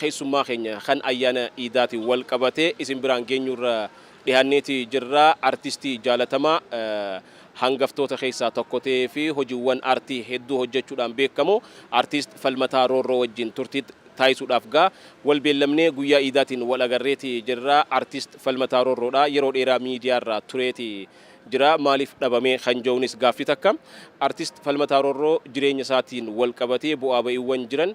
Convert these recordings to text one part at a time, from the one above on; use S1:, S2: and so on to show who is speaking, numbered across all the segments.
S1: Keessummaa keenya kan ayyaana iidaatiin wal qabatee isin biraan geenyuurra dhihaanneeti jirra. Artistii jaalatamaa hangaftoota keessaa tokko ta'ee fi hojiiwwan aartii hedduu hojjechuudhaan beekamu Artiist Falmataa Roorroo wajjin turtiit taasisuudhaaf gaa wal beellamnee guyyaa iidaatiin wal agarreeti jirra. Artiist Falmataa Roorroodha. Yeroo dheeraa miidiyaarraa tureeti jira. Maaliif dhabamee kan jedhuunis gaaffii takka. Artiist Falmataa Roorroo jireenya isaatiin wal qabatee bu'aa ba'iiwwan jiran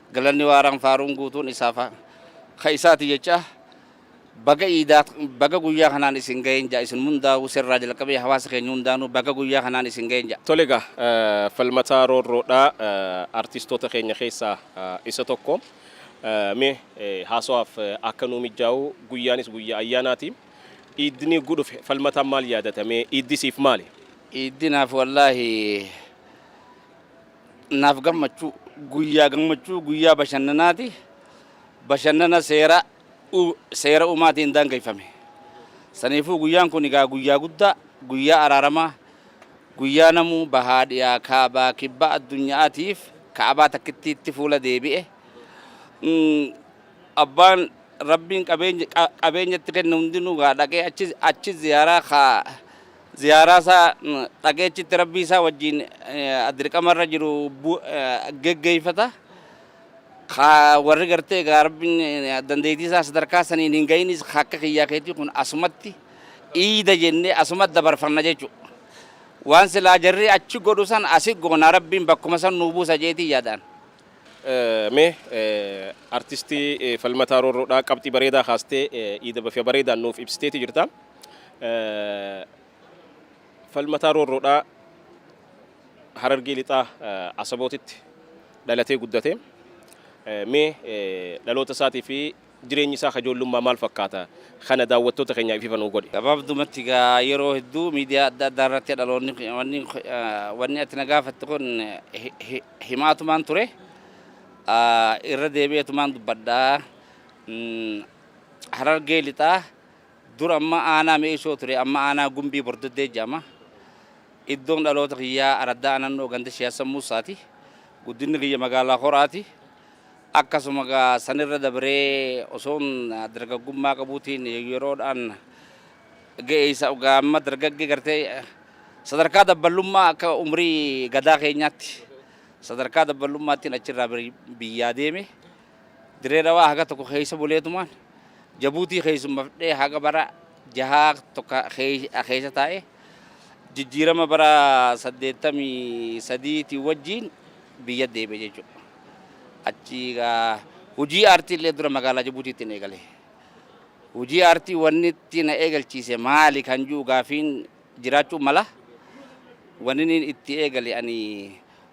S2: Galanni waaraan faaruun guutuun isaaf ka isaati jechaa baga iidaa baga guyyaa kanaan isin ga'een ja'a isin hundaa'uu sirraa jalqabee hawaasa keenya hundaanuu baga guyyaa kanaan isin ga'een ja'a. Tole egaa
S1: Falmataa Roorroodhaa artistoota keenya keessaa isa tokko. Mee haasawaaf akka nuu mijjaa'u guyyaanis guyyaa ayyaanaati. Iiddni gu dhufe Falmataan maal yaadata mee iiddi siif maali? Iiddi naaf
S2: wallaahi Naaf gammachuu guyyaa gammachuu guyyaa bashannanaati. Bashannana seera seera uumaatiin daangeffame. Saniifuu guyyaan kun egaa guyyaa guddaa, guyyaa araaramaa, guyyaa namuu bahaa dhiyaa kaabaa kibbaa addunyaatiif ka'abaa takkittiitti fuula deebi'e. Abbaan rabbiin qabeenya itti kenne hundinuu gaa dhaqee achi ziyaaraa kaa Ziyaaraa isaa dhageechitti Rabbii isaa wajjiin dirqama irra jiru geggeeffata. Ka warri gartee egaa Rabbiin dandeettii isaa sadarkaa saniin hin ga'inis ka akka kiyyaa keetii kun asumatti iida jennee asuma dabarfanna jechuudha. Waan silaa jarri achi godhu san asi goona Rabbiin bakkuma san nuu buusa jeetii yaadaan.
S1: Mee artistii Falmataa Roorroodhaa qabxii bareedaa kaastee iida bafia bareedaan nuuf ibsiteeti jirta. Falmataa Roorroodhaa Harargee Lixaa Asabootitti dhalatee guddate. Mee dhaloota isaatii fi jireenyi isaa ka ijoollummaa maal fakkaata? Kana daawwattoota keenyaaf ifa nuu godhi. Gabaabdumatti egaa
S2: yeroo hedduu miidiyaa adda addaa irratti dhaloonni wanni wanni ati na gaafatte kun himaatumaan ture irra deebi'eetumaan dubbadha. Harargee lixaa Dur amma aanaa Me'isoo ture amma aanaa Gumbii Bordoddee jedhama. Iddoon dhaloota kiyyaa araddaa Anannoo ganda Shee Hassan Muussaati. Guddinni kiyya magaalaa Horaati. Akkasuma gaa sanirra dabree osoon dargaggummaa qabuutiin yeroodhaan ga'eessa gaa amma dargaggee gartee sadarkaa dabballummaa akka umrii gadaa keenyaatti sadarkaa dabballummaattiin achirraa biyyaa deeme. Dirree Dhawaa haga tokko keessa buleetumaan Jabuutii keessummafdhee haga bara jahaa tokko keessa taa'e. Jijjiirama bara 83 tiin wajjiin biyya deebi'e jechuudha. Achi hojii aartii illee dura magaalaa Jabuutiitti eegale. Hojii aartii wanni itti na eegalchiise maali kan jiru gaafiin jiraachuu mala. Wanni itti eegale ani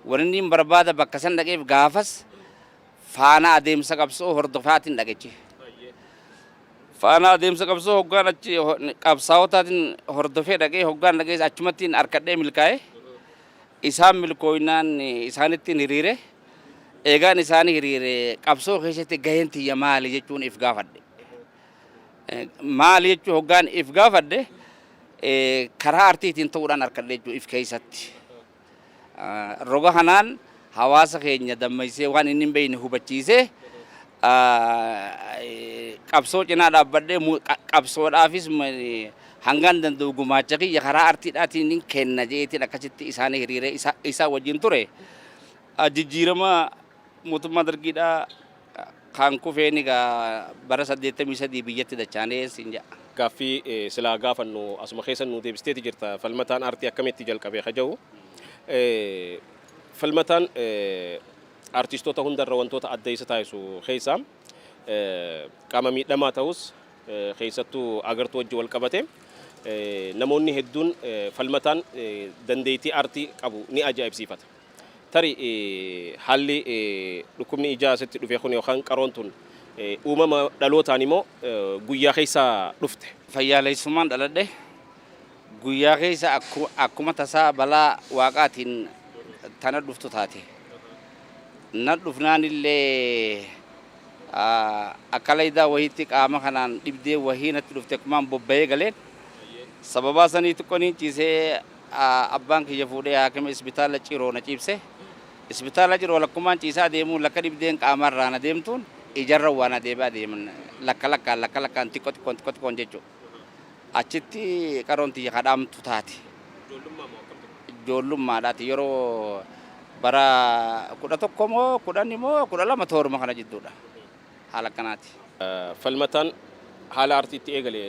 S2: wanni barbaada bakka san dhaqeef gaafas Faana adeemsa qabsoo hordofaatiin dhagechi. Faana adeemsa qabsoo hoggaan achi qabsaa'otaatiin hordofee dhagee hoggaan dhagees achumattiin harkadhee milkaa'e. Isaan milkooynaan isaanittiin hiriire. Eegaan isaanii hiriire qabsoo keessatti gaheen tiyya maali jechuun if gaafadhe. Maali jechuu hoggaan if gaafadhe karaa artiitiin ta'uudhaan harkadhe jechuu if keessatti. Roga kanaan hawaasa keenya dammaysee waan inni hin beekne hubachiisee qabsoo cinaa dhaabbadhee qabsoodhaafis hangaan danda'u gumaacha kiyya karaa artiidhaatiin kenna jeetiin akkasitti isaanii hiriiree isaa wajjin ture jijjiirama Mootummaa Dargiidhaa kaan kufeen egaa bara 83 biyyatti dachaanee siin ja'a. Gaaffii silaa
S1: gaafannu asuma keessa nuu deebisteeti jirta. Falmataan aartii akkamitti jalqabe ka jedhu. Falmataan aartistoota hundarra wantoota adda isa taasisu keessaa qaama miidhamaa ta'us keessattuu agartuu wajji wal qabate namoonni hedduun falmataan dandeettii aartii qabu ni ajaa'ibsiifata. Tarii haalli dhukkubni ijaa sitti dhufe kun yookaan qaroon tun uumama dhalootaani moo guyyaa keessa dhufte? Fayyaaleessummaan dhaladhe.
S2: Guyyaa keessa akkuma tasaa balaa Waaqaatiin ta na dhuftu taate. Na dhufnaanillee akka laydaa wahiitti qaama kanaan dhibdee wahii natti dhufte akkumaan bobba'ee galeen sababaa sanii xiqqoo niin ciisee Abbaan kiyya fuudhee haakima isbitaala Ciroo na ciibse. Isbitaala Ciroo lakkumaan ciisaa deemuun lakka dhibdeen qaamaa irraa na deemtuun ijarran waa na deebi'aa deeman. Lakka lakkaan lakka lakkaan xiqqo xiqqoon xiqqo xiqqoon jechu. Achitti qaroon tiyya ka dhaamtu taate. Ijoollummaa moo akkam ture? Ijoollummaadhaati yeroo bara 11 moo 10 moo 12 tooruma kana jidduudha. haala akkanaati. Falmataan
S1: haala aartii itti eegale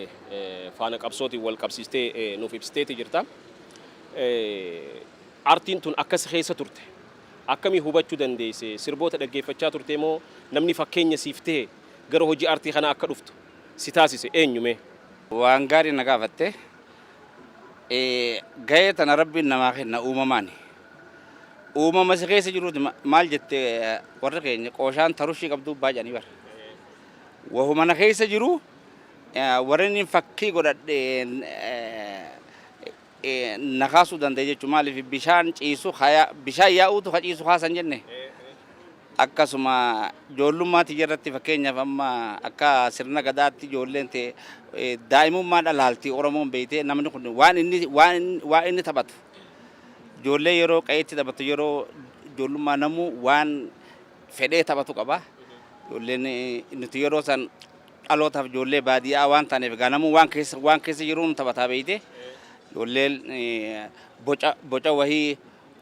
S1: faana qabsootiin wal qabsiistee nuuf ibsiteeti jirta. Aartiin tun akka si keessa turte akkamii hubachuu dandeesse? Sirboota dhaggeeffachaa turtee moo namni fakkeenya siif tahe gara hojii aartii kanaa akka dhuftu si taasise eenyu mee? Waan gaarii
S2: na gaafatte. Gahee tana Rabbiin namaa kenna uumamaani. Uumama isa keessa jiruuti ma- maal jette eh, warri keenya qooshaan tarushii qabduu baay'anii bara. Wahuma na keessa jiru eh, warri inni fakkii godhadhe eh, eh, na kaasuu danda'e jechuudha. Maaliif bishaan ciisu haya- bishaan yaa'uutu ka ciisu kaasan jenne. akkasuma ijoollummaa tiyya irratti fakkeenyaaf amma akka sirna gadaatti ijoolleen ta'e eh, daa'imummaa dhalaalti oromoon beeyte namni kun waan inni waan inni- waan inni taphatu Ijoollee yeroo qa'eetti taphatu yeroo ijoollummaa namuu waan fedhee taphatu qaba. Ijoolleen nuti yeroo san dhalootaaf ijoollee baadiyyaa waan taaneef egaa namuu waan keessa waan keessa jiruun taphataa beeyte. Ijoolleen boca boca wahii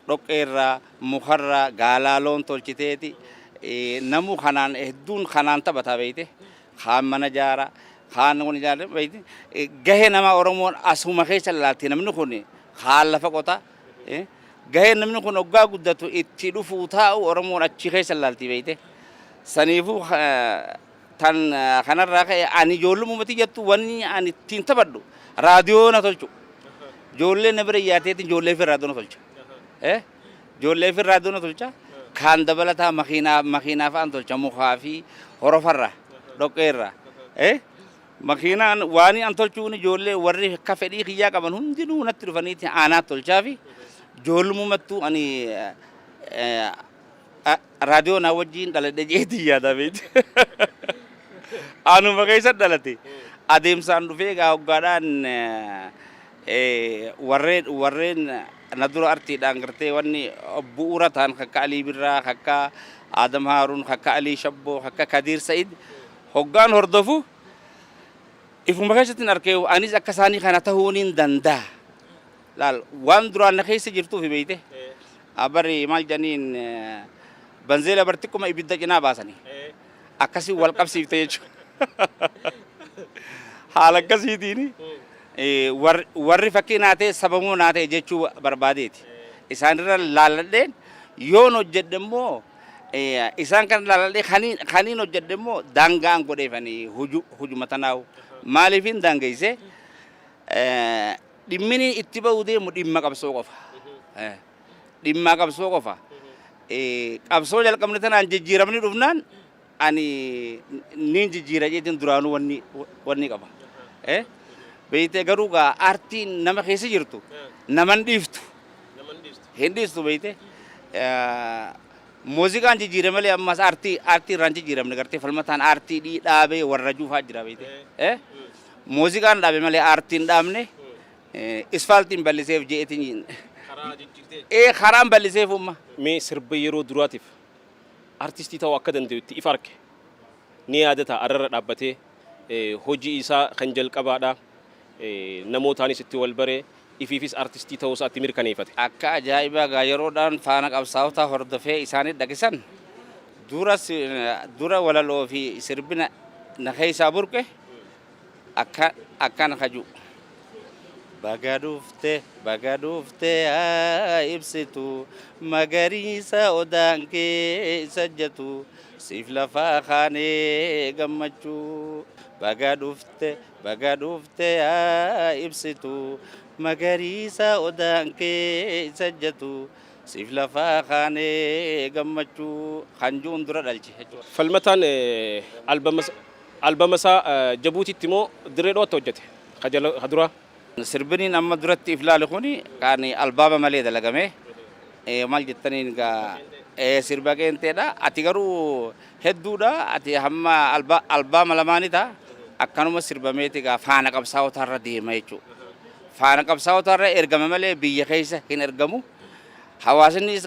S2: dhoqqeerraa mukarraa gaalaaloon tolchiteeti namuu kanaan hedduun kanaan taphataa beeyte. kaan mana jaara, kaan wani jaara beekti. Gahee nama Oromoon asuma keessa ilaalti namni kun kaan lafa qota. Gahee namni kun oggaa guddatu itti dhufuu taa'u Oromoon achi keessa ilaalti beekte. Saniifuu tan kanarraa ka'e ani ijoollumuma tiyyattu wanni ani ittiin taphadhu raadiyoo na tolchu. Ijoollee na bira iyyaateetiin ijoollee fi raadiyoo na tolcha. Ijoollee fi irraa duna tolcha. Kaan dabalataa makiinaa makiinaa fa'aan tolcha mukaa fi horofarra dhoqqeerra. Eh? Makiinaan waan an tolchuun ijoollee warri akka fedhii kiyyaa qaban hundinuu natti dhufaniiti aanaa tolchaa fi ijoollumattuu ani eh, a- raadiyoo naa wajjin dhaladhe jeetii yaada beekti. Anuma keessa dhalate adeemsaan dhufee egaa hoggaadhaan eh, eh, warreen warreen Kana dura artiidhaan gartee wanni bu'uura ta'an kakka Alii Birraa, kakka Aadam Haaruun, kakka Alii Shabboo, kakka Kadiir Sa'id hoggaan hordofu ifuma keessattin arke anis akka isaanii kana ta'uu niin danda'a. Laal waan duraan na keessa jirtuufi beeyte bari maal jedhaniin banzeela bar xiqquma ibidda cinaa baasanii. akkasiin wal qabsiifte jechuudha. Haala akkasiitiin eh, war- warri fakkii naa ta'e sababuu naa ta'e jechuu barbaadeeti. Isaanirra laalladheen yoon hojjedhe immoo eh, isaan kan laalladhee kaniin kaniin hojjedhe immoo daangaan godheefanii huju hujuma tanaa'u maaliifin daangeessee eh, dhimmini itti ba'uu deemu dhimma qabsoo qofa. Eh, dhimmaa qabsoo qofa. Qabsoo jalqabne tanaan jijjiiramni dhufnaan ani niin jijjiira jeetiin duraanuu wanni qaba. Beeytee garuu gaa aartiin nama keessa jirtu naman dhiiftu. Hin dhiistu beeytee. Muuziqaan jijjiire malee ammas aartii aartii irraan jijjiiramne gartee falmataan aartii dhii dhaabee warra juufaa jira beeytee. Muuziqaan dhaabe malee aartiin dhaabne Isfaaltiin balliseef je'eetiin. Karaa jijjirtee. Ee karaan balliseef umma. Mee sirba yeroo
S1: duraatiif artistii ta'uu akka dandayutti if arke ni yaadata arrarra dhaabbatee hojii isaa kan jalqabaadha namootaanis itti wal bare ifiifis artistii ta'uu isaa itti mirkaneeyfate. Akka ajaa'ibaa
S2: gaa yeroodhaan faana qabsaa'otaa hordofee isaanii dhaqe san dura walaloo fi sirbina na keeysaa burqe akkan akkan kaju. Baga dhufte baga dhufte yaa ibsitu magariisa odaan keessa jatu siif lafaa kaanee gammachuu baga dhufte baga dhufte yaa ibsitu magariisa odaan keessa jatu siif lafaa kaanee gammachuu kan ju'un dura dhalche jechuudha. Falmataan
S1: albama Albama isaa Jabuutiitti moo Dirree Dhawatti hojjate? Ka jala ka duraa. Sirbini
S2: amma duratti if laale kuni kan albaama malee dalagame mal jettaniin egaa ee sirba qeenxeedha ati garuu hedduudha ati hamma albaama lamaani ta akkanuma sirbameeti egaa faana qabsaa'otaa irra deema jechuu faana qabsaa'otaa irra ergama malee biyya keessa hin ergamu hawaasinnis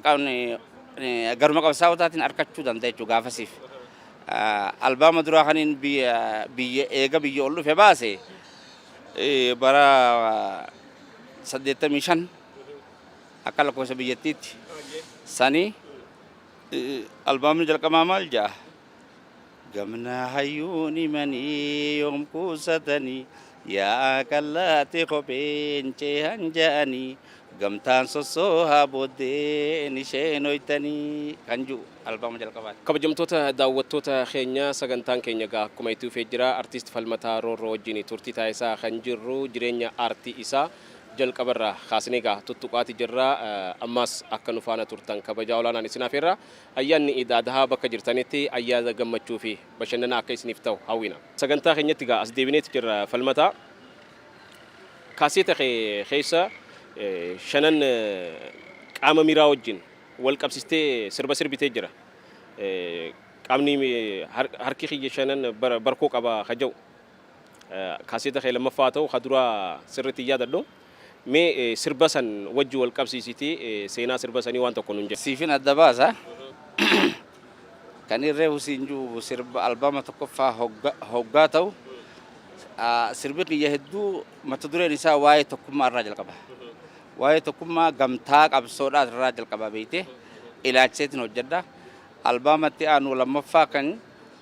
S2: garuma qabsaa'otaatiin arkachuu danda'a jechuu gaafasiif Albaama duraa kaniin biyya eega biyya ol dhufe baase bara 85 akka lakkoofsa biyyattiitti sani albaamni jalqabaa maal ja'a gamna hayyuun himanii yoom kuusatanii Yaa kallaatti kopheen ceehan ja'anii gamtaan sossoohaa booddeen ishee nooytanii kan ju'u albama jalqabaati. Kabajamtoota daawwattoota
S1: keenya sagantaan keenya egaa akkuma itti fufee jira. Artiist Falmataa Roorroo wajjin turtii taasisaa kan jirru jireenya aartii isaa jalqabarraa kaasnee egaa tuttuqaati jirra. Ammaas akka nu faana turtan kabajaa olaanaan isin afeerra. Ayyaanni Iid Adhaa bakka jirtanitti ayyaana gammachuufi bashannanaa akka isiniif ta'u hawwina. Sagantaa keenyatti egaa as deebineeti jirra Falmataa. Kaaseeta kee keessa shanan qaama miiraa wajjin wal qabsistee sirba sirbitee jira. Qaamni harki kiyya shanan barkoo qaba ka jedhu. Kaaseeta kee lammaffaa haa ta'u ka duraa sirriitti hin yaadadhu. Mee sirba san wajji wal qabsiisiitii seenaa sirba sanii waan tokko nuun jedhi. Siifin adda baasa.
S2: Kan irree husiin ju'u sirba albama tokkoffaa hoggaa ta'u sirbi kiyya hedduu mata dureen isaa waa'ee tokkummaa irraa jalqaba. Waa'ee tokkummaa gamtaa qabsoodhaa irraa jalqaba beeyte ilaalchiseetiin hojjedha. Albama itti aanu lammaffaa kan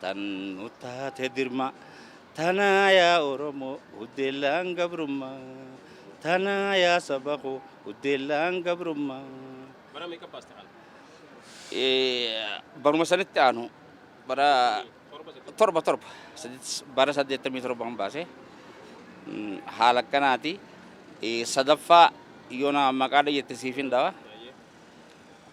S2: Tan nu taate dirmaa. Tanaa yaa Oromoo huddeellaan gabrummaa. Tanaa yaa saba koo huddeellaan gabrummaa. Bara meeqa
S1: baaste kana?
S2: Baruma sanitti aanu bara torba torba bara saddeettamii torban baase haala akkanaati. Sadaffaa yoona maqaa dhayyette siifin dhawa.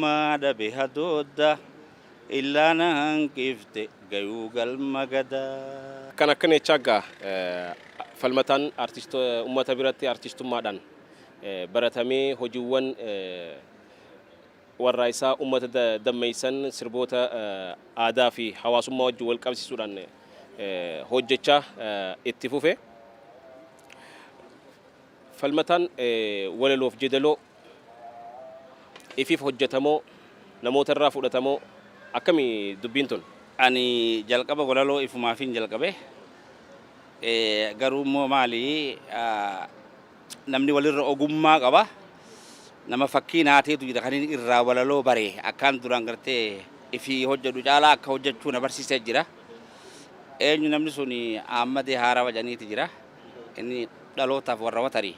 S2: Maa dhabe hadoodda illaa na hanqifte gayuu galma gadaa. Kan akka Neechaa Aggaa
S1: falmataan ummata biratti artistummaadhaan baratamee hojiiwwan warraaysaa ummata dammeessan sirboota aadaafi hawaasummaa wajjin walqabsiisuudhaan hojjechaa itti fufe. Falmataan walaloof jedaloo ifif hojjatamoo namoota irraa fudhatamoo akkami dubbiin tun? Ani
S2: jalqaba walaloo ifumaafin jalqabe. Garuu immoo maali namni walirra ogummaa qaba. Nama fakkii naa teetu jira kanin irraa walaloo bare akkaan duraan gartee ifi hojjedhu caalaa akka hojjechuu na barsiise jira. Eenyu namni suni Aammadee Haarawa jedhaniiti jira. Inni dhalootaaf warra watarii.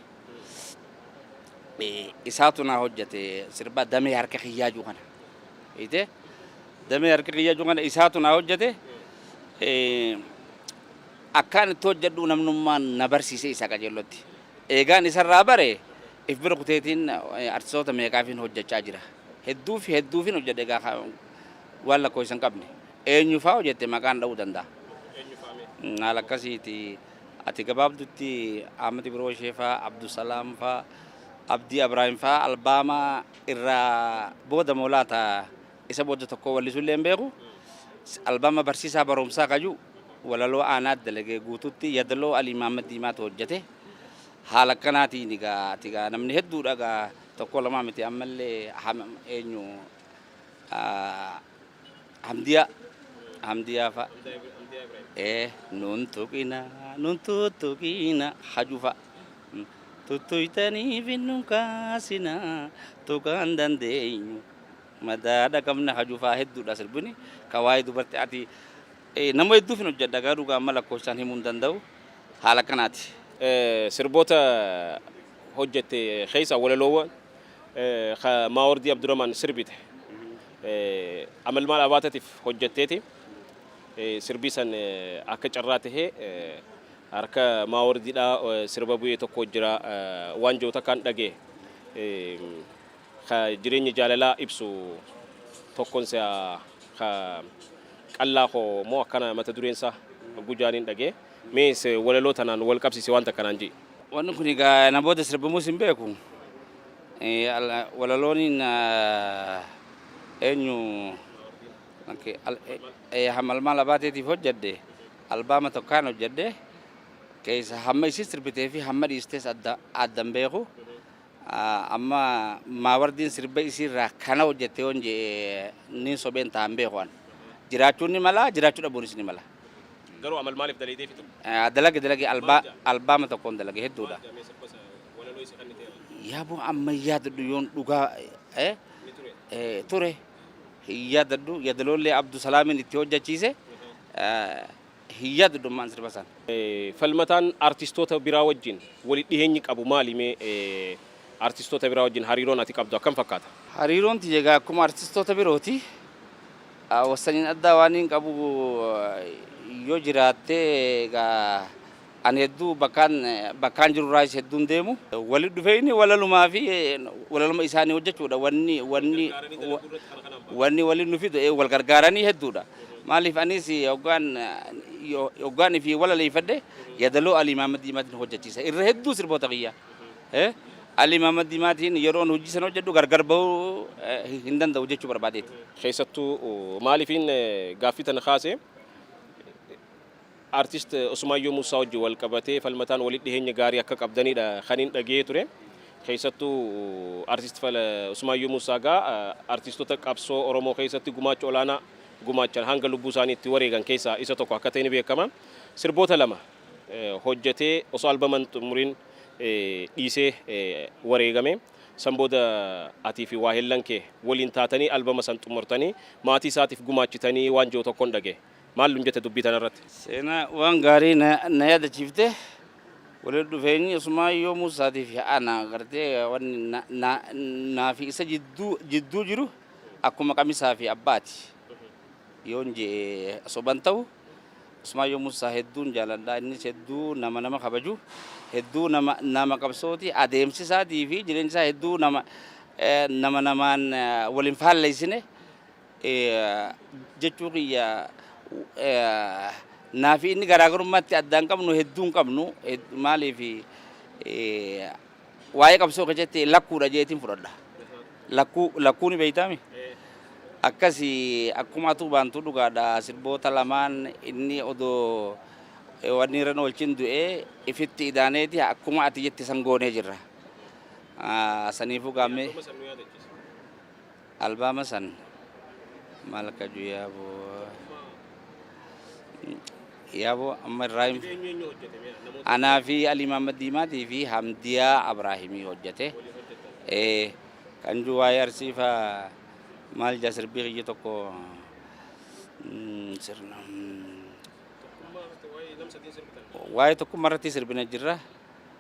S2: Isaatu naa hojjate sirba damee harka kiyyaa juu kana. Ite damee harka kiyyaa juu kana isaatu naa hojjate. Akkaan itti hojjedhu namnummaan na barsiise isaa qajeellotti. Eegaan isarraa bare if bira kuteetiin artistoota meeqaafiin hojjechaa jira. Hedduuf hedduufin hojjedhe egaa waan lakkoofsa hin qabne. Eenyu faa yoo jette maqaan dha'uu danda'a. Eenyu faa mee? Mm, Haala akkasiiti. Ati gabaabdutti Ahmed Biroshee faa, Abdusalaam faa, Abdii Abraahim faa albaama irraa booda moo laata isa booda tokko wallisuu illee hin beeku. S- Albaama barsiisaa barumsaa kaju walaloo aanaa dalagee guututti yadaloo Alii Mahammad Diimaatu hojjete. Haala akkanaatiin egaa ati egaa namni hedduudha egaa tokko lamaa miti ammallee Aham- eenyu ah, Hamdiyaa Hamdiyaa fa. Ee nun tuqina nun tuttuqina haju fa. Tuttuytaniif hin nun kaasina tuqaan dandeenyu madaadha qabna haju fa hedduudha sirbini ka waa'ee dubartii ati eh, nama hedduuf hin hojjedha garuu dhugaa amma lakkoofsaan himuu hin danda'u haala kanaati. Eh, Sirboota
S1: hojjette keessa walaloowwan ka Maawordii Abduramaan sirbite Amalmaal Abaatatiif hojjatteeti. Sirbii san akka carraa tahee harka Maawordiidhaa sirba bu'e tokko jira waan jedhu takkaan dhagaye. Ka jireenya jaalalaa ibsu tokkon si'a ka qallaa koo moo akkana mata dureen isaa gujaaniin dhagaye. Mee walaloo tanaan wal qabsiisi waan takka naan je'i. Wanni kun egaa
S2: na booda sirbamuus hin beeku. Walaloon eenyu hamalmaal abaateetiif hojjedhe albaama tokkaan hojjedhe keessa hamma isii sirbitee fi hamma dhiistees addan beeku. Amma maawardiin sirba isiirraa kana hojjette yoon jedhe niin sobeen ta'a hin beeku an. Jiraachuun ni mala, jiraachuu dhabuunis ni mala. Garuu amal maaliif
S1: dalaydee fixu? Dalage dalage albaa
S2: albaama tokkoon dalage hedduudha. Maal jedhamee sirba isa walaloo isa kanniteera? Yaaboo amma hin yaadadhu yoon dhugaa eh, Ni ture. eh, ture hin yaadadhu yadaloollee Abdu Salaamiin itti hojjechiise eh, Hin yaadu dammaan sirba san. Falmataan
S1: artistoota biraa wajjin wali dhiheenyi qabu maali mee artistoota biraa wajjin hariiroon ati qabdu akkam fakkaata? Hariiroon tiyya egaa
S2: akkuma artistoota birooti. Wassaniin addaa waaniin qabu yoo jiraatte egaa. Ani hedduu bakkaan bakkaan jiru irraayis hedduun deemu. Walitti dhufeenyi walalumaa fi walaluma isaanii hojjechuudha. Wanni wanni wanni waliin nu fidu wal gargaaranii hedduudha. Maaliif anis hoggaan hoggaan fi walaleeffadhe yadaloo Alii Maamad Diimaatiin hojjechiisa. Irra hedduu sirboota kiyyaa. Alii Maamad Diimaatiin yeroon hojii san hojjedhu gargar bahuu hin danda'u jechuu barbaadeeti. Keessattuu
S1: maaliifiin gaaffii tana kaase? Artist Usmaayyoo Muussaa wajjin wal qabatee Falmataan walitti dhiheenya gaarii akka qabdanidha kanin dhagahee ture. Keessattuu Artist Usmaayyoo Muussaa egaa artistoota qabsoo Oromoo keessatti gumaacha olaanaa gumaachan hanga lubbuu isaanii itti wareegan keessaa isa tokko akka ta'e ni beekama. Sirboota lama hojjetee osoo albama hin xumuriin dhiisee wareegame. San booda atii fi waahillan kee waliin taatanii albama san xumurtanii maatii isaatiif gumaachitanii waan jedhu tokkon dhagahe. Maal nun jetta dubbii tanarratti? Seenaa waan
S2: gaarii na yaadachiifte. Walitti dhufeenyi Usmaayyoo Muusaatii fi ana gartee wanni naa fi isa jidduu jiru akkuma qamisaa fi abbaati yoon je'e soba hin ta'u. Usmaayyoo Muusaa hedduun jaaladha. Innis hedduu nama nama kabaju, hedduu nama qabsooti. Adeemsi isaatii fi jireenyi isaa hedduu nama namaan wal hin faalleessine. jechuu kiyya naa fi inni garaagarummaa itti addaan qabnu hedduu hin qabnu maaliif waa'ee qabsoo keessatti lakkuudha jeetiin fudhadha. Lakkuu lakkuu ni beektaami. Akkasi akkuma atuu baantuu dhugaadha sirboota lamaan inni odoo wanni irra oolchin du'ee ifitti idaaneeti akkuma ati jette san goonee jirra. Saniifuu gaammee. Albaama san maal kaju yaaboo yaaboo amma irraayim anaa fi alii maammad diimaatii fi hamdiyaa abraahimii hojjate ee kan juu waa'ee arsiifa maal jaa sirbii kiyya tokko sirna waa'ee tokkummaa irratti sirbina jirra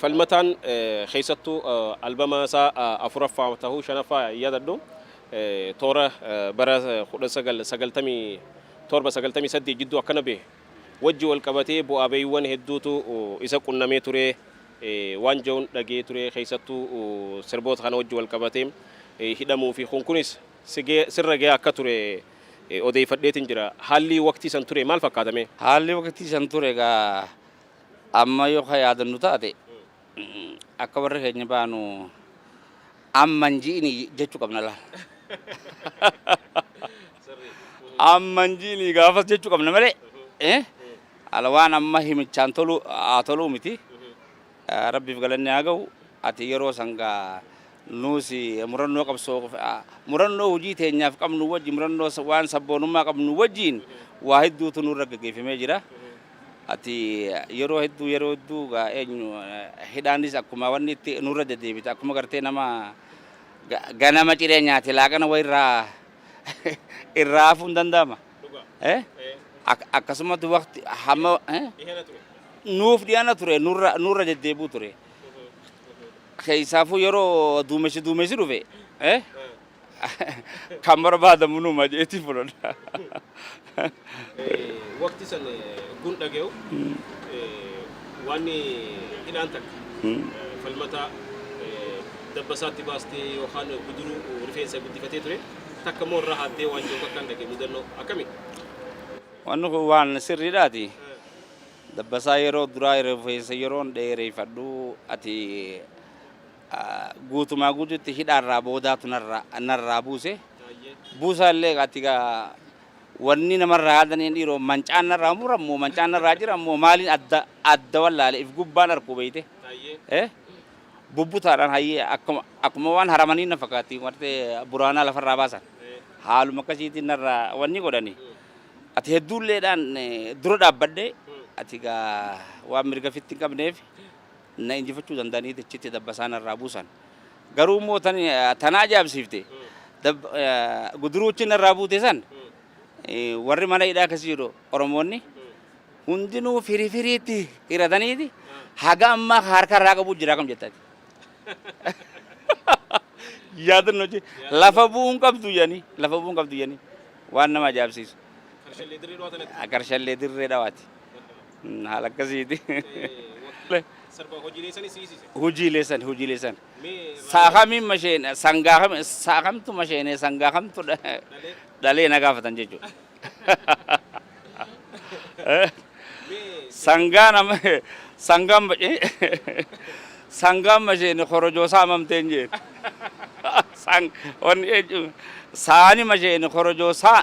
S1: Falmataan keessattuu albama isaa 4ffaa tahuu 5ffaa hin yaadadhu toora bara 1997, 98 jidduu akkana bahe wajji wal qabatee bu'aa bayiiwwan hedduutu isa qunnamee ture waan ja'uun dhagayee ture keessattuu sirboota kana wajji wal qabatee hidhamuu fi kun kunis sirra gayaa akka ture odeeyfadheetin jira. Haallii waqtii san ture maal fakkaata mee? Haallii waqtii san
S2: ture egaa Amma yoo ka yaadannu taate, akka warri keenya baanu amma hin ji'ini jechu qabna laal. Amma hin ji'ini gaafas jechu qabna malee, ala waan amma himichaan tolu haa toluu miti. Rabbiif galanni haa ga'u. Ati yeroo san gaa nuus murannoo qabsoo murannoo hojii teenyaaf qabnu wajji murannoo waan sabboonummaa qabnu wajjiin waa hedduutu nurra gaggeeffamee jira. Ati yeroo hedduu yeroo hedduu gaa eenyu hidhaanis akkuma wanni itti nurra deddeebita akkuma gartee nama ga- ganama ciree nyaate laaqana wayi irraa irraa hafuun danda'ama. Eh? Ak- Akkasumatti waqti hamma eh? nuuf dhiyana ture nurra nurra deddeebuu ture. Keessaafuu yeroo duumessi duumessi dhufe eh? kan barbaadamu numa jeetii fudhadha.
S1: Waqti san gun dhage'u waan hidhaan takka falmataa dabbasaatti baastee yookaan guduruu rifeensa guddifatee ture takka immoo irraa haaddee waan jiru akkaan dhage mudannoo akkami?
S2: Wanni kun waan sirriidhaati. Dabbasaa yeroo duraa rifeensa yeroon dheereeffadhu ati guutumaa guututti hidhaarraa boodaatu narraa narraa buuse. Buusaallee ati gaa wanni namarraa yaadaniin dhiiroo mancaan narraa murammoo mancaan narraa jirammoo maaliin adda adda wallaale if gubbaan arkuu beeyte. Eh? Bubbutaadhaan hayyee akkuma akkuma waan haramanii na fakkaatti martee buraanaa lafarraa baasan. Haaluma akkasiitiin narraa wanni godhani. Ati hedduulleedhaan eh, dura dhaabbadhee ati gaa waan mirga fitti hin qabneef na injifachuu danda'anii dachitti dabbasaa narraa buusan. Garuu immoo tan ta na ajaa'ibsiifte dab- eh, guduruu achi narraa buute san eh, warri mana hidhaa keessa jiru Oromoonni hundinuu firii firiitti hirataniiti haga ammaa ka harka irraa qabu jira kam jettati. Yaadanno jee lafa bu'uu hin qabdu jedhanii lafa bu'uu hin qabdu jedhanii waan nama ajaa'ibsiisu. Karshallee dirree dhawaati. Haala akkasiiti. Sarba hojiilee sani siisise. Hojiilee sani hojiilee sani. Sa'a kamiin masheen sangaa kam sa'a kamtu masheenee sangaa kamtu dhalee na gaafatan jechuudha. Sangaa nama sangaan sangaan masheenee korojoo saamamteen jeen. Sang wanni jechuun saani masheenee korojoo saa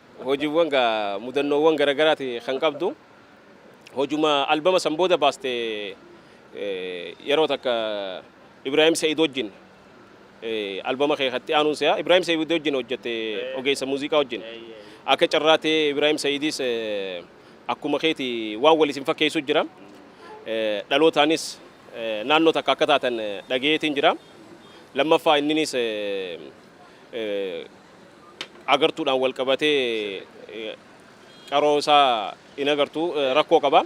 S1: Hojiwwan gaa mudannoowwan garagaraati kan qabdu. Hojuma albama san booda baaste yeroo takka Ibrahim Said wajjin albama kee kan itti aanuun se'a. Ibrahim Said wajjin hojjette ogeessa muuziqaa wajjin. Akka carraa ta'ee Ibrahim Saidis akkuma keeti waan wal isin fakkeessu jira. Dhalootaanis naannoo takka akka taatan dhagayeetiin jira. Lammaffaa inninis agartuudhaan walqabatee qaroo isaa hin agartu rakkoo qaba.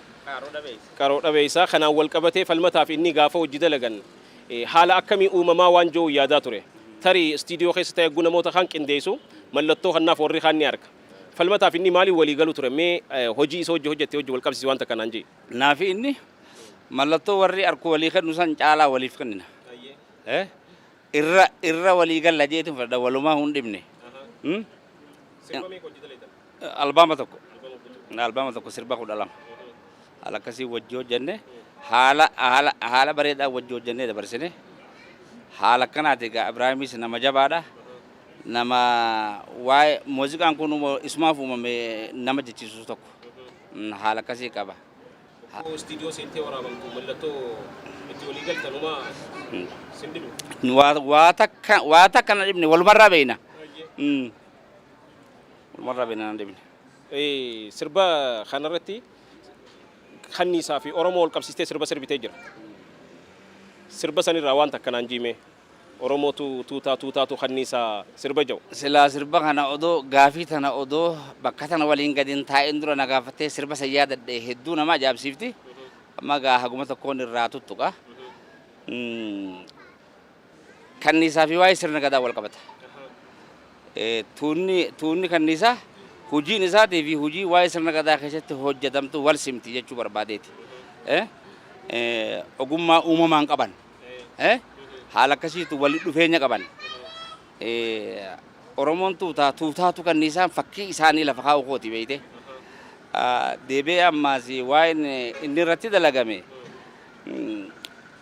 S1: Qaroo dhabeessa. Kanaan walqabatee falmataaf inni gaafa hojji dalagan haala akkamii uumamaa waan je'uun yaadaa ture. Tarii istiidiyoo keessa ta'ee hogguu namoota kaan qindeessu mallattoo kannaaf warri kaan ni arga. Falmataaf inni maaliin walii galu ture? Mee hojii isa hojji hojjatte wajji walqabsiisi waan takka naan je'i. Naafi inni
S2: mallattoo warri arku walii kennu san caalaa waliif kennina. Irra irra walii galla jeetin fadha walumaa hun dhibne. Sirba meeqa hojjeta leetan? Albaama tokko. Albaama tokko sirba kudha lama. Haala akkasii wajji hojjenne haala haala haala bareedaa wajji hojjennee dabarsine. Haala akkanaati egaa Ibraahimis nama jabaadha. Nama waa'ee muuziqaan kun isumaaf uumame nama jechiisu tokko. Haala akkasii qaba. Rakkoo istiidiyoo
S1: seentee waraabamtu mallattoo itti walii galtan homaa sin dhibu. Waa waa takka
S2: waa takka na dhibne walumarraa beeyna. Baay'ee. Mm. Walumarraa beeyna na dhibne. Eh, Sirba
S1: kanarratti kanniisaa fi Oromoo wal qabsiistee sirba sirbitee jira. Sirba sanirraa waan takka naan jiimee. Oromootu tuutaa tuutaatu kanniisa sirba jau. Silaa sirba kana
S2: odoo gaafii tana odoo bakka tana waliin gadi hin taa'in dura na gaafattee sirba san yaadadhe hedduu nama ajaa'ibsiifti. Amma egaa haguma tokkoon irraa tuttuqa. Kanniisaa fi waa'ee sirna gadaa wal qabata. Tuunni tuunni kanniisaa hojiin isaatii fi hojii waa'ee sirna gadaa keessatti hojjetamtu wal simti jechuu barbaadeeti. Ogummaa uumamaan qaban haala akkasiitu walitti dhufeenya qaban. Oromoon tuutaa tuutaatu kanniisaan fakkii isaanii lafa kaa'u kooti beeyte. Deebi'ee ammaas waa'een inni irratti dalagame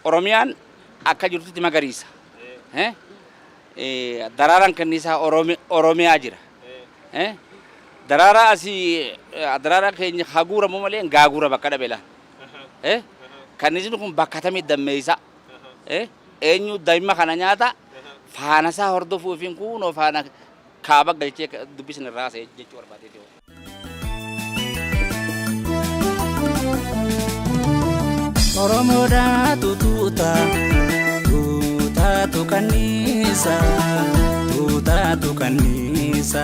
S2: Oromiyaan akka jirtutti magariisa. Daraaraan kanniisaa Oromiyaa jira. Daraaraa asii daraaraa keenya haguuramu malee gaaguura bakka dhabe laa. Eh? Kanniisni kun bakka atamii dammeessa? Eh? Eenyu daa'imma kana nyaata? Faana isaa hordofuu fi kuunoo faana kaaba galchee dubbisni irraa haasa'e jechuu barbaadee ta'u. Oromoodha
S3: tutuuta tuutaatu kanniisa tuutaatu kanniisa.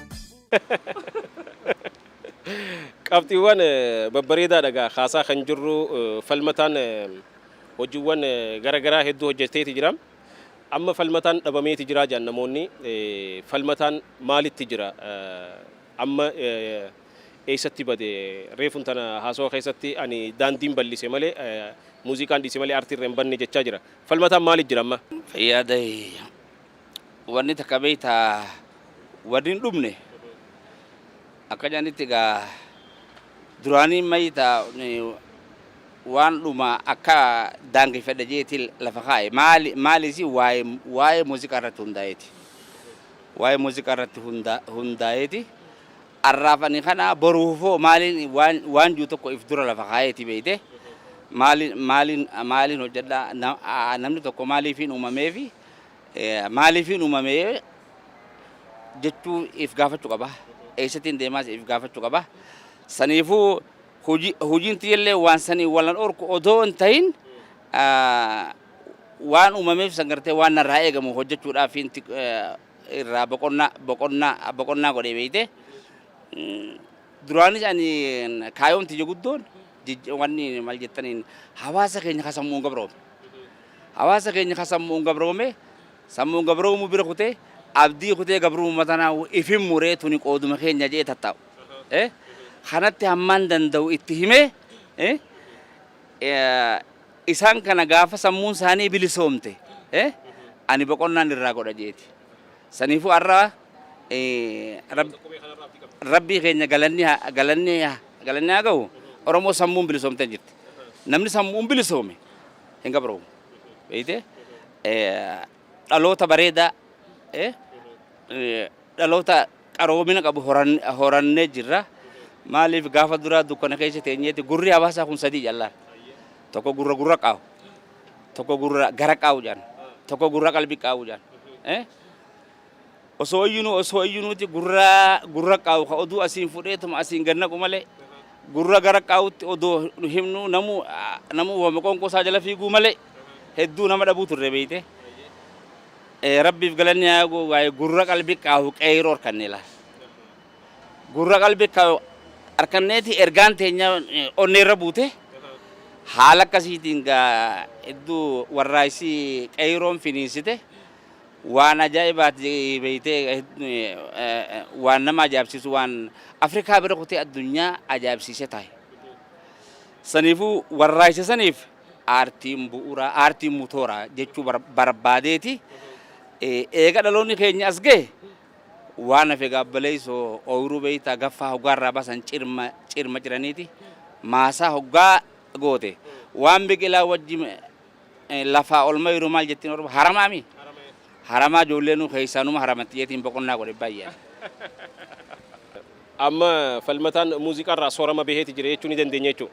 S1: Qabxiiwwan babbareedaa dhagaa kaasaa kan jirru falmataan hojiiwwan garagaraa hedduu hojjeteeti jira. Amma falmataan dhabameeti jira jedhan namoonni falmataan maalitti jira amma eessatti bade reefun tana haasawa keessatti ani daandiin bal'ise malee muuziqaan dhiise malee artii irra hin banne jechaa jira. Falmataan maalitti jira amma? Yaada
S2: Wanni takka beektaa wanni hin dhumne akka jedhanitti egaa duraanii mayita waan dhuma akka daangeffadha jeeti lafa kaa'e maali maaliisi waa'ee waa'ee muuziqaa irratti hundaa'eeti. Waa'ee muuziqaa irratti hunda- hundaa'eeti. Arraaf ani kana boruufoo maaliin waan waan jiru tokko if dura lafa kaa'eeti beekte maaliin maaliin maaliin hojjedha na- aa, namni tokko maaliifiin uumameefi Maaliifiin uumame jechuu if gaafachu qaba. Eessatiin deemaas if gaafachu qaba. Saniifuu hojiin tiyyallee waan sanii walan orku odoo hin tahin waan uumameef san gartee waan narraa eegamu hojjechuudhaaf irraa boqonnaa boqonnaa boqonnaa godhee beeyte. Duraanis ani kaayoon tiyya guddoon wanni maal jettaniin hawaasa keenya ka sammuun gabroome. Hawaasa keenya ka sammu'uun gabroome, sammu'uun gabroomuu bira kutee, abdii kutee gabruumuma tanaahuu if hin muree tuni qooduma keenya je'ee tattaa'u. eh, Kanatti hammaan danda'u itti himee, eh, eh, isaan kana gaafa sammuun isaanii bilisoomte, eh, ani boqonnaan irraa godha je'eeti. Saniifuu arra, eh, Rab, Rabbii keenya galanni ha- galanni ha- galanni haa gahu, Oromoo sammuun bilisoomtee jirti. Namni sammu'uun bilisoome, hin gabroomu. Beeyte dhaloota bareedaa dhaloota qaroomina qabu horannee jirra. Maaliif gaafa duraa dukkana keessa teenyeeti gurri hawaasaa kun sadii jallaan. Tokko gurra gurra qaawu. Tokko gurra gara qaawu jedhan. Tokko gurra qalbii qaawu jedhan. Osoo iyyinuu osoo iyyinuuti gurra gurra qaa'u ka oduu asiin fudheetuma asiin gad naqu malee gurra gara qaa'utti odoo nu himnuu namuu namuu wama qoonqoo isaa jala fiiguu malee hedduu nama dhabuu turre beeyte rabbiif galanni haa goo waa'ee gurra qalbi qaa'u qeeyroo harkannee laal gurra qalbi qaa'u harkanneeti ergaan teenya onnee irra buute haala akkasiitiin gaa hedduu warraaysi qeeyroon finiinsite Waan ajaa'ibaati beeytee waan nama ajaa'ibsiisu waan Afrikaa bira kutee addunyaa ajaa'ibsiisee taa'e. Saniifuu warraaqsa saniif aartiin bu'uuraa, aartiin mutoora jechuu barbaadeeti. Eega dhaloonni keenya as gahe waan hafe gaabbaleessoo ooyiruu beeytaa gaffaa hoggaa irraa baasan cirma cirma ciraniiti maasaa hoggaa goote waan biqilaa wajji Lafaa ol mayru maal jettiin orma haramaa mi? Haramaa ijoollee nuu keessaa numa haramatti jetiin boqonnaa godhe baay'een.
S1: Amma Falmataan muuziqaa irraa soorama baheeti jira jechuu ni dandeenya jechuu.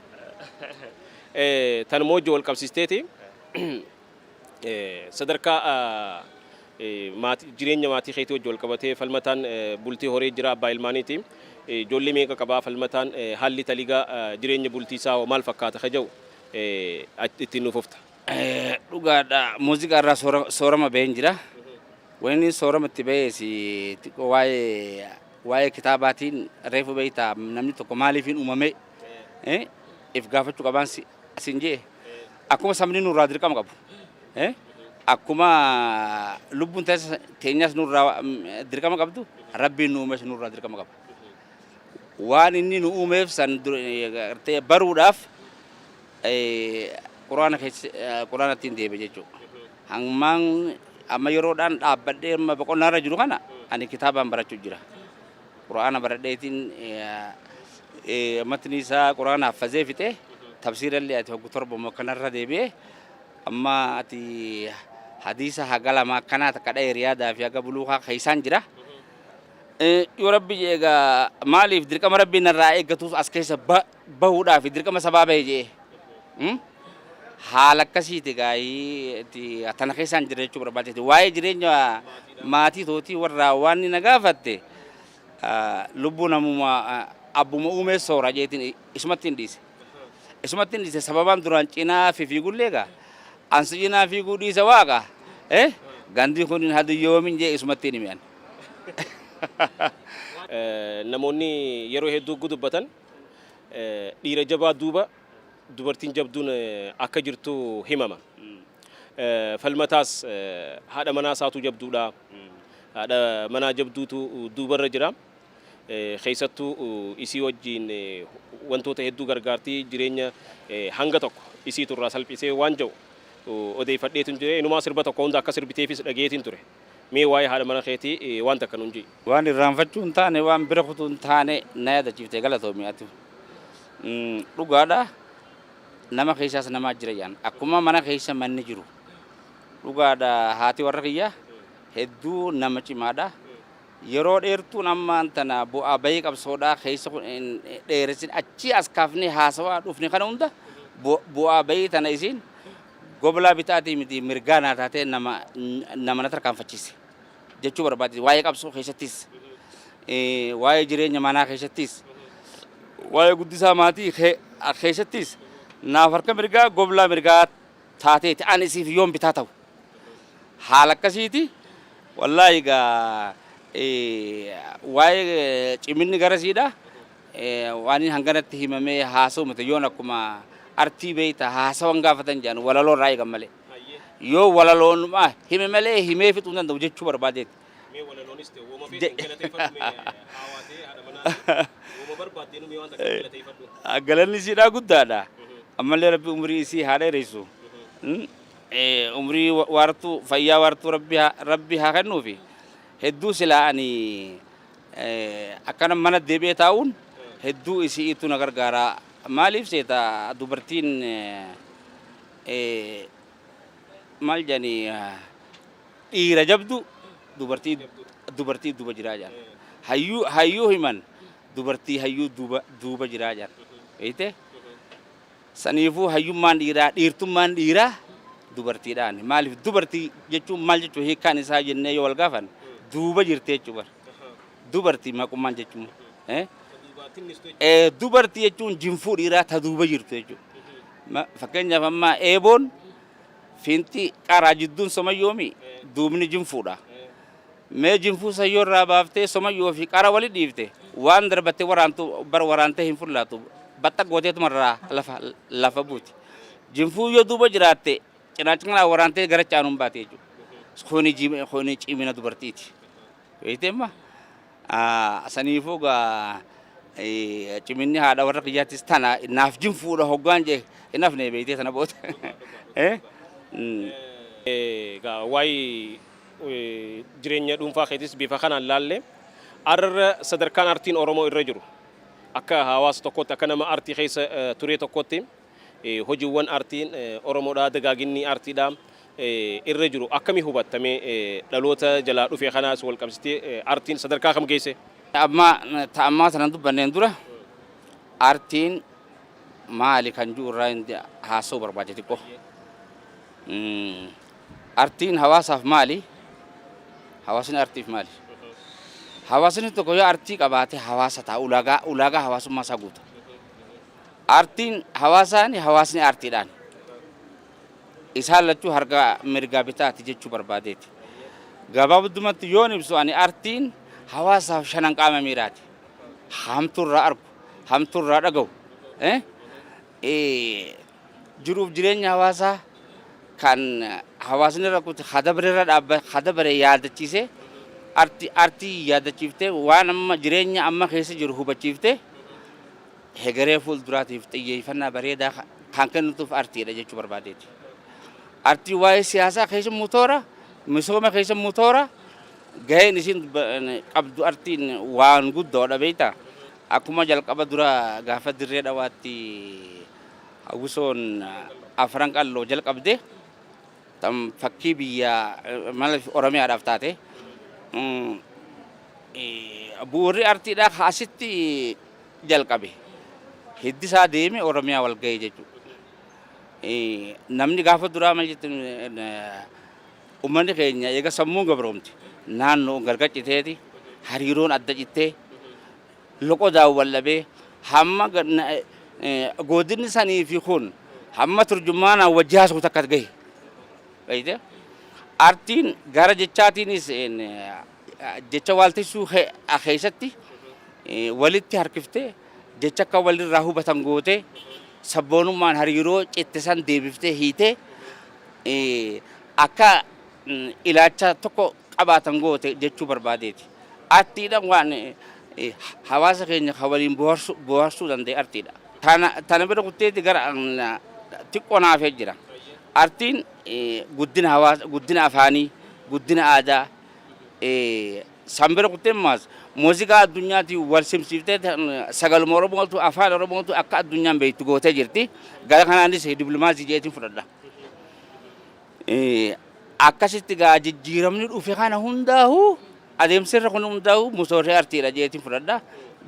S1: Tan moojjoo wal qabsiisteeti sadarkaa jireenya maatii keetii wajji wal qabatee Falmataan bultii horee jira abbaa ilmaaniiti. Ijoollee meeqa qabaa Falmataan haalli taligaa jireenya bultii isaa hoo maal fakkaata ka jedhu itti nu fufta. Dhugaadha
S2: muuziqaa irraa soorama baheen jira. Wayni soorama itti bahees xiqqoo waa'ee waa'ee kitaabaatiin reefu beektaa namni tokko maaliifiin uumamee if gaafachuu qabaan siin jee akkuma sabni nurraa dirqama qabu akkuma lubbuun teenyaas nurraa dirqama qabdu rabbiin nu uumes nurraa dirqama qaba. Waan inni nu uumeef san baruudhaaf quraana quraanatti hin deeme jechuudha. Hammaan amma yeroodhaan dhaabbadhee amma boqonnaa irra jiru kana ani kitaabaan barachuu jira. Quraana baradheetiin matni isaa quraana haffazee fixee tafsiira illee ati hoggu torba immoo kanarra deebi'ee amma ati hadiisa haga lama akkanaa takka dha'e riyaadaa fi haga buluukaa keessaan jira. Yoo Rabbi je'e egaa maaliif dirqama Rabbiin narraa eeggatuus as keessa bahuudhaafi dirqama sabaa bahe je'ee haala akkasiiti gaayii tana keessaan jira jechuu barbaadeeti. Waa'ee jireenya maatii tootii warraa waan na gaafatte lubbuu namuma abbuma uumee soora jeetiin isumatti hin dhiise. Isumatti hin dhiise sababaan duraan cinaa fi fiigullee egaa ansi cinaa fiiguu dhiise waaqa gandii kun hin hadu yoomin jee isumatti hin himi'an.
S1: Namoonni yeroo hedduu hogguu dubbatan dhiira jabaa duuba dubartiin jabduun akka jirtu himama. Falmataas haadha manaa isaatu jabduudha, haadha manaa jabduutu duubarra jira, keessattuu isii wajjiin wantoota hedduu gargaarti, jireenya hanga tokko isiitu irraa salphisee waan jedhu odeeffadheetin jira. Inumaa sirba tokko hunda akka sirbiteefis dhagayeetiin ture. Mee waa'ee haadha mana keetii waan takka nuun je'i. Waan irraanfachuu hin
S2: taane, waan bira kutuu hin taane na yaadachiifte galatoomi ati. Dhugaadha nama keessaas namaa jira jedhan. Akkuma mana keessa manni jiru. Dhugaadha haati warra kiyyaa hedduu nama cimaadha. Yeroo dheertuun ammaan tana bu'aa bahii qabsoodhaa keessa kun hin dheeressin achii as kaafnee haasawaa dhufne kana hunda bu'aa bahii tana isiin Goblaa bitaatii miti mirgaa naa taatee nama nama na tarkaanfachiise jechuu barbaaddi. Waa'ee qabsoo keessattis, waa'ee jireenya manaa keessattis, waa'ee guddisaa maatii keessattis naaf harka mirgaa goblaa mirgaa taateeti ani siif yoon bitaa ta'u. Haala akkasiiti wallaahi egaa waa'ee ciminni garasiidha. Waanin hanganatti himamee haasa'u miti yoon akkuma artii beeyta haasawan gaafatan jedhan walaloo irraa eegan malee. Yoo walaloonuma hime malee himee fixuu hin danda'u jechuu barbaadeeti. Mee walaloonis ta'e wooma feeteen galateeffadhu
S1: mee haawaa ta'e haadha manaa ta'e wooma barbaaddeen mee waan takka galateeffadhu. Galanni isiidhaa
S2: guddaadha. Ammallee rabbi umrii isii haa dheeressu. Umrii waartuu fayyaa waartuu rabbi haa kennuufi. Hedduu silaa ani Akkana mana deebi'ee taa'uun hedduu isi'iitu na gargaara. Maaliif seeta dubartiin maal jedhani dhiira jabdu dubartii dubartii duuba jiraa jedhan. Hayyuu hayyuu himan dubartii hayyuu duuba duuba jiraa jedhan. Beeyte? Saniifuu hayyummaan dhiiraa, dhiirtummaan dhiiraa dubartiidhaani. Maaliif dubartii jechuun maal jechuudha hiikkaan isaa jennee yoo wal gaafanne duuba jirti jechuudha bar. Dubartii maqummaan jechuun. eh, eh, Dubartii jechuun jinfuu dhiiraa ta duuba jirtu jechuudha. Ma- Fakkeenyaaf amma eeboon fiinxii qaraa jidduun somayyoomi duubni jinfuudha. Mee jinfuu sayyoo irraa baaftee somayyuu ofii qara wali dhiifte waan darbatte waraantu bar waraantee hin fullaatu baxxaq gooteetuma irraa lafa lafa buuti jinfuu yoo duuba jiraatte cinaacha kanaa waraantee gara caanuun baati jechuudha kuni jim- kuni cimina dubartiiti beekteemma saniifuu gaa eh, ciminni haadha warra kiyyaattis tana naaf jinfuudha hoggaan jee hin hafne beektee sana booda Eh? Mm. Eh, egaa
S1: waa'ee Jireenya dhuunfaa keetis bifa kanaan laallee arra sadarkaan artiin Oromoo irra jiru akka hawaasa tokkootti akka nama artii keessa turee tokkootti hojiiwwan artiin Oromoodhaa dagaaginni artiidhaa irra jiru akkami hubatta mee dhaloota jalaa dhufe kanaas wal qabsitee artiin sadarkaa kam geesse? Amma ta
S2: ammaa sana dubbanneen dura artiin maali kan jiru irraa haasa'uu barbaade xiqqoo. Artiin hawaasaaf maali? Hawaasni artiif maali? Hawaasni tokko yoo artii qabaate hawaasa ta'a, ulaagaa, ulaagaa hawaasummaa isaa guuta. Artiin hawaasaani, hawaasni artiidhaan. Isaan lachuu harka mirgaa bitaati jechuu barbaadeeti. Gabaabdumatti yoon ibsu ani artiin hawaasaaf shanan qaama miiraati. Hamtuurraa argu, hamtuurraa dhaga'u. Eh? Eh, Jiruuf jireenya hawaasaa kan hawaasni irra kute ka dabre irra dhaabba ka dabre yaadachiisee arti artii yaadachiiftee waan amma jireenya amma keessa jiru hubachiiftee hegeree fuulduraatiif xiyyeeffannaa bareedaa ka- kan kennituuf artiidha jechuu barbaadeeti. Artii waa'ee siyaasaa keessa immoo toora misooma keessa immoo toora gaheen isin ba- qabdu artiin waan guddoodha beektaa. Akkuma jalqaba dura gaafa dirree dhawaatti Agusoon Afran Qalloo jalqabde tan fakkii biyya maaliif Oromiyaadhaaf taate bu'uurri artiidhaa ka asitti jalqabe hiddisaa deeme Oromiyaa wal ga'e jechuudha. Namni gaafa duraa maal jettu uummanni keenya eega sammuun gabroomte naannoo gargar citeeti hariiroon adda cittee loqodaan wal dhabee hamma goodinni sanii fi kun hamma turjumaanaan wajji haasa'u takka gahe. Beeyte? Artiin gara jechaatiinis jecha waaltessuu keessatti walitti harkiftee jecha akka walirraa hubatan gootee sabboonummaan hariiroo citte san deebiftee hiitee akka ilaacha tokko qabaatan goote jechuu barbaadeeti. Artiidhaan waan hawaasa keenya kan waliin booharsuu danda'e artiidha. Tana bira kutteeti gara xiqqoo na hafee jira. Artiin guddina hawaasa, guddina afaanii, guddina aadaa san bira kuttee maas muuziqaa addunyaatiin wal simsiiftee sagaluma Oromootu afaan Oromootu akka addunyaan beektu gootee jirti. Gara kanaanis diplomaasii jeetiin fudhadha. Akkasitti gaa jijjiiramni dhufe kana hundaahu adeemsi irra kun hundaahu musooshee artiidha jeetiin fudhadha.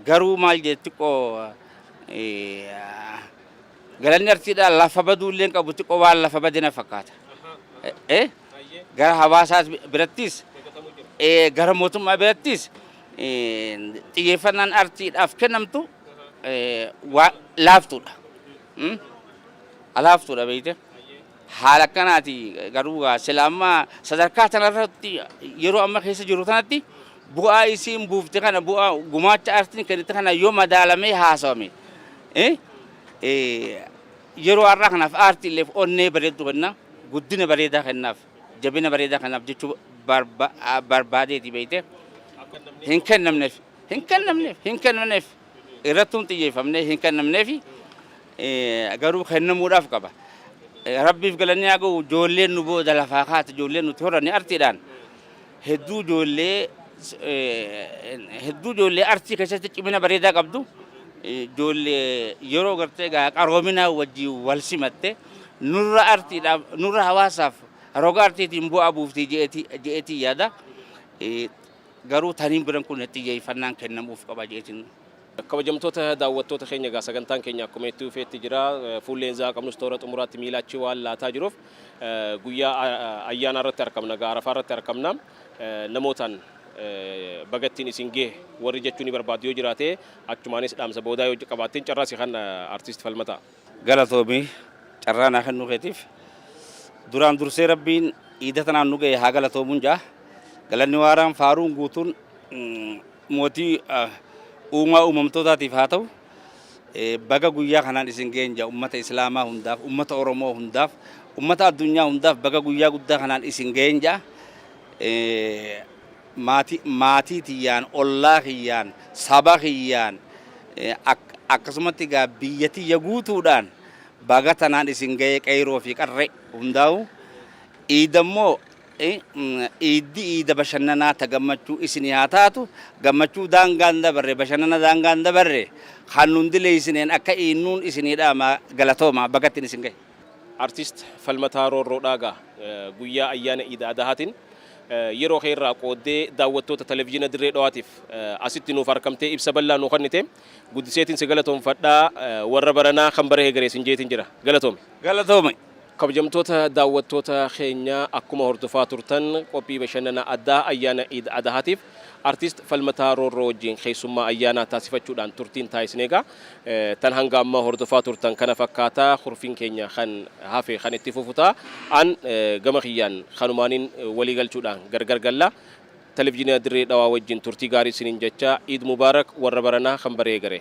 S2: Garuu maal jee xiqqoo galanni artiidha lafa baduu illee qabu xiqqoo waan lafa bade na fakkaata. Gara hawaasaa birattis gara mootummaa birattis xiyyeeffannaan artiidhaaf kennamtu laaftuudha. Laaftuudha beekte. Haala akkanaati garuu gaa sila amma sadarkaa tanarratti yeroo amma keessa jiru tanatti bu'aa isiin buufte kana bu'aa gumaacha aartiin kennite kana yoo madaalamee haasawame yeroo har'aa kanaaf aartiilleef onnee bareeddu kenna guddina bareedaa kennaaf jabina bareedaa kennaaf jechuu barbaadeeti beeyte hin kennamneef hin kennamneef hin kennamneef irrattuun xiyyeeffamnee hin kennamneefi garuu kennamuudhaaf qaba. Rabbiif galannee haa ga'u ijoolleen nu booda lafaa kaate ijoolleen nuti horanne artiidhaan hedduu ijoollee hedduu ijoollee artii keessatti cimina bareedaa qabdu ijoollee yeroo gartee gaa qaroominaa wajjin wal simatte nurra artiidhaaf nurra hawaasaaf roga artiitiin bu'aa buuftii je'eetii yaada. Garuu taniin biran kun xiyyeeffannaan kennamuuf qaba jeetiin. Kabajamtoota
S1: daawwattoota keenya egaa sagantaan keenya akkuma itti fufeetti jira. Fuulleen zaa qabnus toora xumuraatti miila achi waan laataa jiruuf guyyaa ayyaanaa irratti arkamna egaa arafaa irratti arkamna. Namootaan baga ittiin isin gahe warri jechuu ni barbaaddu yoo jiraate achumaanis dhaamsa boodaa yoo qabaatteen carraa si kan artiist falmataa. Galatoomi
S2: carraa naa kennuu keetiif. Duraan dursee Rabbiin iida tanaan nu ga'e haa galatoomuun ja'a. Galanni waaraan faaruun guutuun mootii uumaa uumamtootaatiif haa ta'u. Baga guyyaa kanaan isin ga'een ja'a ummata Islaamaa hundaaf, ummata Oromoo hundaaf, ummata addunyaa hundaaf baga guyyaa guddaa kanaan isin ga'een ja'a. maati maatii tiyyaan ollaa kiyyaan saba kiyyaan ak akkasumatti egaa biyya tiyya guutuudhaan baga tanaan isin ga'ee qeyroo fi qarree hundaa'u iida immoo iiddi iida bashannanaa ta gammachuu isinii haa taatu gammachuu daangaa hin dabarre bashannana daangaa hin dabarre kan nun dileeysineen akka iinnuun isinii dhaama galatooma baga ittiin isin ga'e. Artist
S1: Falmataa Roorroo Dhaagaa guyyaa ayyaana Iid Adahaatiin yeroo kee irraa qooddee daawwattoota Televizhiina Dirree Dhawaatiif asitti nuuf arkamtee ibsa bal'aa nuu kennite guddiseetiin si galatoomfadha. Warra baranaa kan bara hegeree sin jeetiin jira. Galatoomi! Galatoomi!
S2: Kabajamtoota
S1: daawwattoota keenyaa akkuma hordofaa turtan qophii bashannana addaa ayyaana Iid Adahaatiif Artist Falmataa Roorroo wajjiin keessummaa ayyaanaa taasifachuudhaan turtiin taasisne egaa tan hanga ammaa hordofaa turtan kana fakkaata. Kurfiin keenya kan hafe kan itti fufu ta'a. An gama kiyyaan kanumaanin walii galchuudhaan gargar galla. Televizhinia Dirree Dhawaa wajjiin turtii gaarii isiniin jechaa Eid Mubarak warra baranaa kan bara eegare.